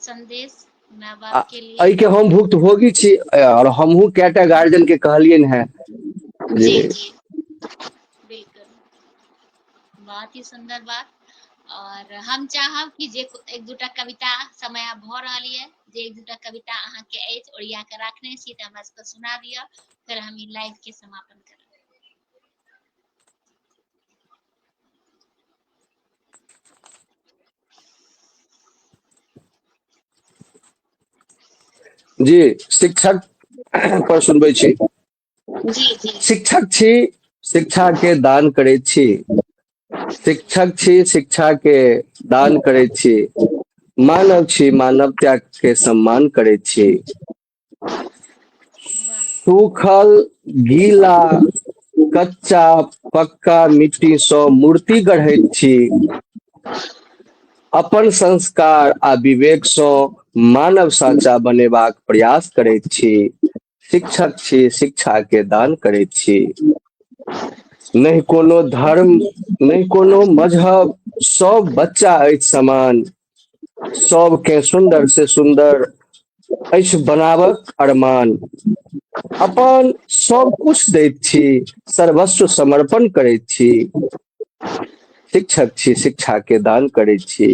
संदेश माय आ बाप के लिए एहिके हम
भुक्त
भोगी
छी आओर हमहुँ कएटा गार्जियन के कहलियनि हेँ जे
जी
जी
बिलकुल बहुत ही सुन्दर बात आओर हम चाहब कि जे एक दूटा कविता समय आब भऽ रहल यए जे एक दूटा कविता अहाँके अछि ओरिया कऽ राखने छी तऽ हमरा सबके सुना दिअ फेर हम ई लाइव के समापन करब
जी शिक्षक पर सुनबै छी
शिक्षक छी
शिक्षा के दान करे छी शिक्षक छी शिक्षा के दान करे छी मानव छी मानव त्याग के सम्मान करे छी
सूखल
गीला कच्चा पक्का मिट्टी सँ मूर्ति गढ़ैत छी अपन संस्कार आ विवेक सँ मानव साचा बनेबाक प्रयास करैत छी शिक्षक छी शिक्षा के दान करैत छी नहि कोनो धर्म नहि कोनो मजहब सब बच्चा अछि समान सबके सुंदर से सुंदर अछि बनाबक अरमान अपन सब कुछ दैत छी सर्वस्व समर्पण करैत छी शिक्षक छी शिक्षा के दान करैत छी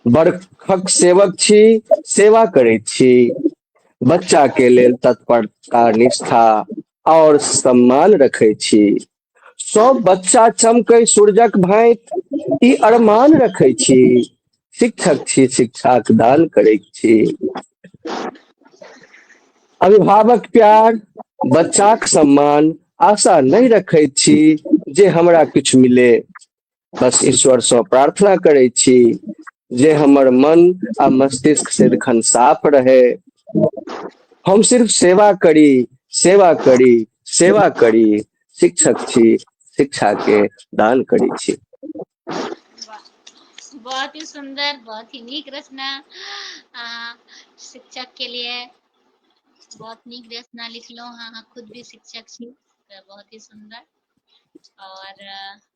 बरखक सेवक छी सेवा करैत छी बच्चा के लेल तत्परता निष्ठा और सम्मान रखैत छी सब बच्चा चमकै सूरजक भाँत ई अरमान रखै छी शिक्षक छी शिक्षाक दान करै छी अभिभावक प्यार बच्चाक सम्मान आशा नहि रखै छी जे हमरा किछु मिले बस ईश्वर से प्रार्थना करे छी जे हमर मन आ मस्तिष्क सदिखन साफ रहे हम सिर्फ सेवा करी सेवा करी सेवा करी शिक्षक छी शिक्षा के दान करी छी
बहुत ही सुंदर बहुत ही नीक रचना शिक्षक के लिए बहुत नीक रचना लिखलो हाँ खुद भी शिक्षक छी बहुत ही सुंदर और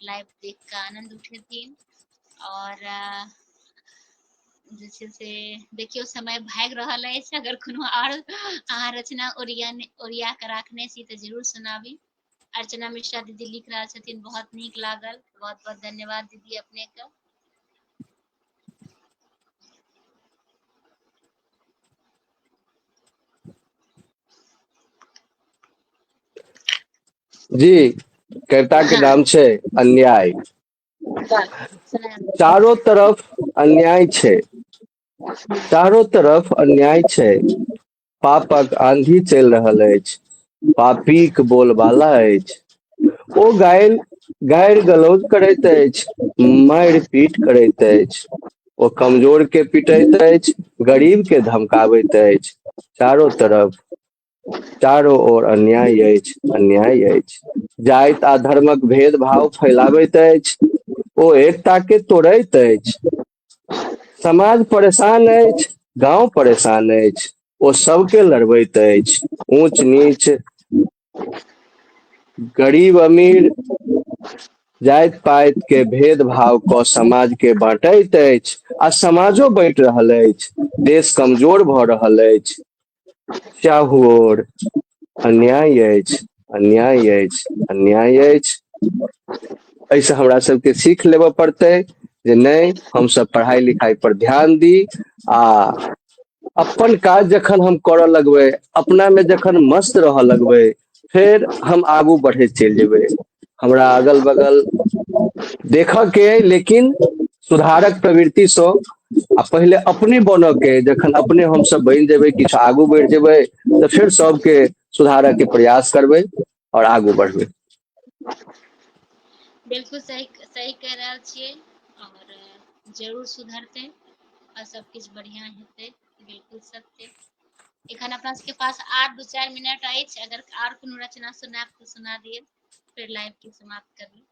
लाइव देख कऽ आनन्द उठेथिन आओर जे छै से देखियौ समय भागि रहल अछि अगर कोनो आओर अहाँ रचना ओरिया ओरिया कऽ राखने छी तऽ जरूर सुनाबी अर्चना मिश्रा दीदी लिख रहल छथिन बहुत नीक लागल बहुत बहुत धन्यवाद दीदी अपनेके
जी कविता के नाम छै अन्याय चारो तरफ अन्याय छै चारो तरफ अन्याय छै पापक आंधी चलि रहल अछि पापीक बोलबाला अछि ओ गायल गारि गलौज करैत अछि मारि पीट करैत अछि ओ कमजोर के पिटैत अछि गरीब के धमकाबैत अछि चारो तरफ चारो ओर अन्याय अछि अन्याय अछि जाइत आ धर्मक भेद भाव फैलाबैत अछि ओ एकता के तोड़ैत अछि समाज परेशान अछि गांव परेशान अछि ओ सबके लड़बैत अछि ऊंच नीच गरीब अमीर जाइत पाइत के भेदभाव कऽ समाज के बाँटैत अछि आ समाजो बाँटि रहल अछि देश कमजोर भऽ रहल अछि चाहुओर अन्याय अछि अन्याय अछि अन्याय अछि एहिसँ हमरा सबके सीख लेबऽ पड़तै जे नहि हमसब पढ़ाइ लिखाइ पर ध्यान दी आ अपन काज जखन हम करऽ लगबै अपना मे जखन मस्त रहऽ लगबै फेर हम आगू बढ़ैत चलि जेबै हमरा अगल बगल देखयके अइ लेकिन सुधारक प्रवृत्तिसँ आ पहिले अपने बनयके अइ जखन अपने हमसभ बनि जेबै किछु आगू बढ़ि जेबै तऽ फेर सभके सुधारयके प्रयास करबै आओर आगू बढ़बै बिल्कुल सही सही कह रहल छियै
और जरूर सुधरते और सब कुछ बढ़िया हेतै बिल्कुल सत्य एखन अपना सबके पास आठ दू चारि मिनट अछि अगर आर कोनो रचना सुनाब तऽ सुना दिअ फिर लाइव के समाप्त कर ली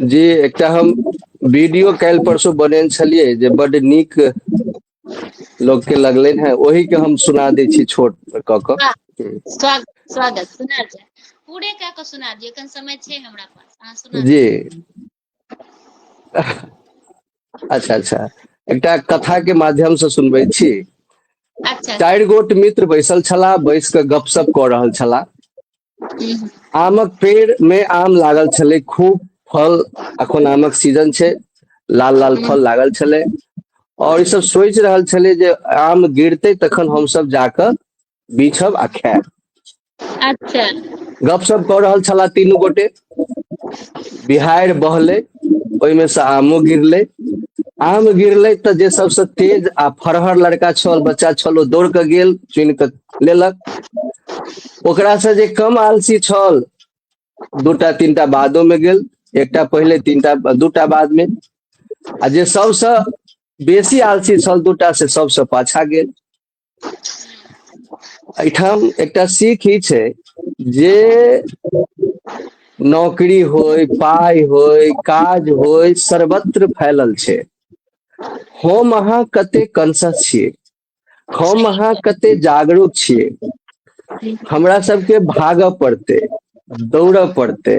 जी एकटा हम वीडियो काल्हि परसू बनेने छलियै जे बड नीक लोग के लगले है ओही के हम सुना दे छी छोट क क स्वागत स्वागत सुना जाए पूरे क
क
सुना
दियो कन समय छै हमरा पास अहाँ सुना जी
अच्छा अच्छा एकटा कथा के माध्यम से सुनबै छी अच्छा चारि गोट मित्र बैसल छलाह बैस कऽ गपशप कऽ रहल छलाह हम्म,
आमक
पेड़ मे आम लागल छलै खूब फल अखन आमक सीजन छै लाल लाल फल लागल छलै और ई सब सोचि रहल छलै जे आम गिरते तखन हमसब जाकऽ बीछब आ खायब अच्छा
गपशप
कऽ रहल छला तीनू गोटे बिहाड़ि बहलै ओहिमे से आमो गिरलै आम गिरलै तऽ जे सबसँ तेज आ फरहर लड़का छल बच्चा छल ओ दौड़ कऽ गेल चुनि कऽ लेलक ओकरासँ जे कम आलसी छल दूटा तीनटा बादोमे गेल एकटा पहिले तीनटा दूटा बादमे आ जे सबसँ बेसी आलसी छल दूटा से सबसँ पाछा गेल एहिठाम एकटा सीख ई छै जे नौकरी होय पाइ होय काज होय सर्वत्र फैलल छै हम अहाँ कते कॉन्सियस छियै हम अहाँ कते
जागरूक
छियै हमरा सबके भागऽ पड़तै दौड़ऽ पड़तै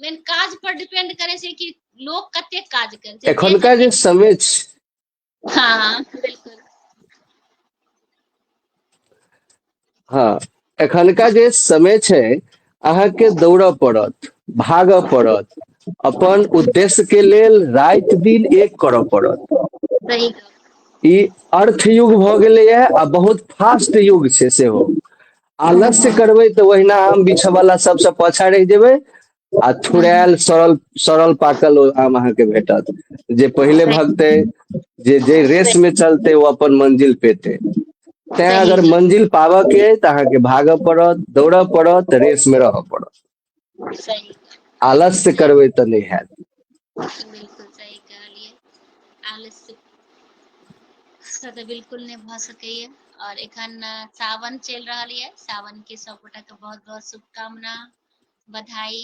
मेन काज पर डिपेंड करे छै कि लोग कते काज करे छै एखनका जे समय छै हाँ
हाँ
बिल्कुल
हाँ एखनका जे समय छै अहाँ के दौड़ऽ पड़त भागऽ पड़त अपन उद्देश्य के लेल रात दिन एक करऽ पड़त सही ई अर्थ युग भऽ गेलैए आ बहुत फास्ट युग छै सेहो आलस्य करबै तऽ ओहिना आम बिछयवला सभसँ पाछाँ रहि जेबै आ थुड़ायल सड़ल सड़ल पाकल ओ आम अहाँके भेटत जे पहिले भगतै
जे
जे रेस में चलते वो अपन मंजिल पेते तैं अगर मंजिल
पाबऽ
के अछि तऽ अहाँके भागऽ पड़त दौड़ऽ पड़त रेस में रहऽ पड़त
आलस्य
करबै तऽ नहि
हैत तऽ बिल्कुल नहि भऽ सकैए और एखन सावन चलि रहल ये सावन के सब गोटा के बहुत बहुत शुभकामना बधाई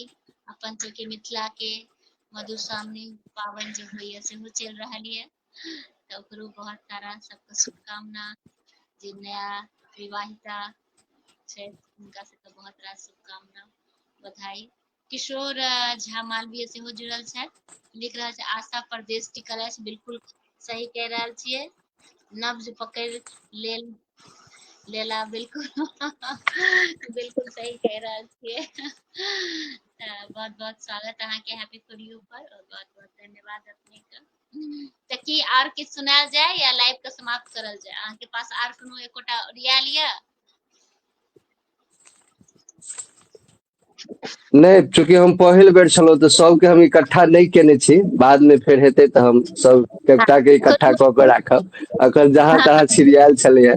अपन सबके मिथिला के मधुश्रावणी पाबनि जे होइए सेहो चलि रहल यऽ तऽ ओकरो बहुत सारा सबके शुभकामना जे नया विवाहिता छै हुनका सबके बहुत सारा शुभकामना बधाई किशोर अ, झा मालवीय सेहो जुड़ल छथि लिख रहल छै आशा प्रदेश टिकल अछि बिल्कुल सही कह रहल छियै नब्ज पकड़ि लेल लेला बिल्कुल बिल्कुल सही कह रहल छियै तऽ बहुत बहुत स्वागत अहाँके हैप्पी फॉर यू पर और बहुत बहुत धन्यवाद अपने के तऽ की आर किछु सुनायल जाय या लाइव के समाप्त करल जाय अहाँ के पास आर कोनो एकोटा
रियल या नहीं चूंकि हम पहल बेर छलो तो सब के हम इकट्ठा नहीं केने छी बाद में फिर हेते तो हम सब एकटा के इकट्ठा क के राखब अखन जहां तहां सीरियल चले है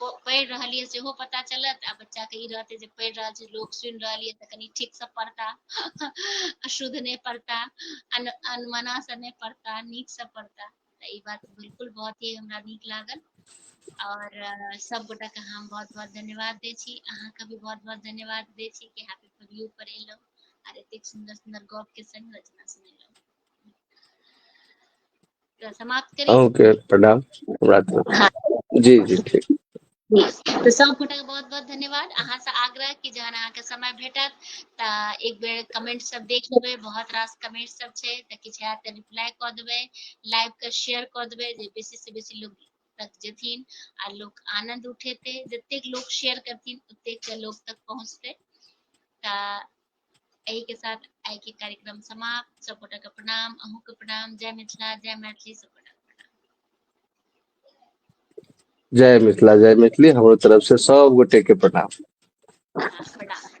पढ़ि रहल ये सेहो पता चलत आ बच्चा के ई रहते जे पढ़ि रहल छै लोक सुनि रहल ये तऽ कनि ठीक से पढ़ता अशुद्ध नहि पढ़ता अन अनमना से नहि पढ़ता नीक से पढ़ता तऽ ई बात बिल्कुल बहुत ही हमरा नीक लागल और अ, सब गोटा के हम बहुत बहुत धन्यवाद दै छी अहाँ के भी बहुत बहुत धन्यवाद दै छी कि हैप्पी फॉर यू पर एलहुँ आर एतेक सुन्दर सुन्दर गप के संग रचना सुनेलहुँ तो समाप्त करें ओके प्रणाम
हाँ। जी जी ठीक तो
सब गोटा के बहुत बहुत धन्यवाद अहा से आग्रह कि जहन अहा के समय भेटत त एक बेर कमेंट सब देख लेबे बहुत रास कमेंट सब छे त किछ है त रिप्लाई क देबे लाइव के शेयर क देबे जे बेसी से बेसी लोग तक जथिन आ लोग आनंद उठेते जतेक लोग शेयर करथिन ओतेक के लोग तक पहुंचते त एहि के साथ आइ के कार्यक्रम समाप्त सब गोटा के प्रणाम अहूँ के प्रणाम जय मिथिला जय मैथिली सब गोटा के प्रणाम
जय मिथिला जय
मैथिली
हमरो तरफ से सब गोटे के प्रणाम हाँ, प्रणाम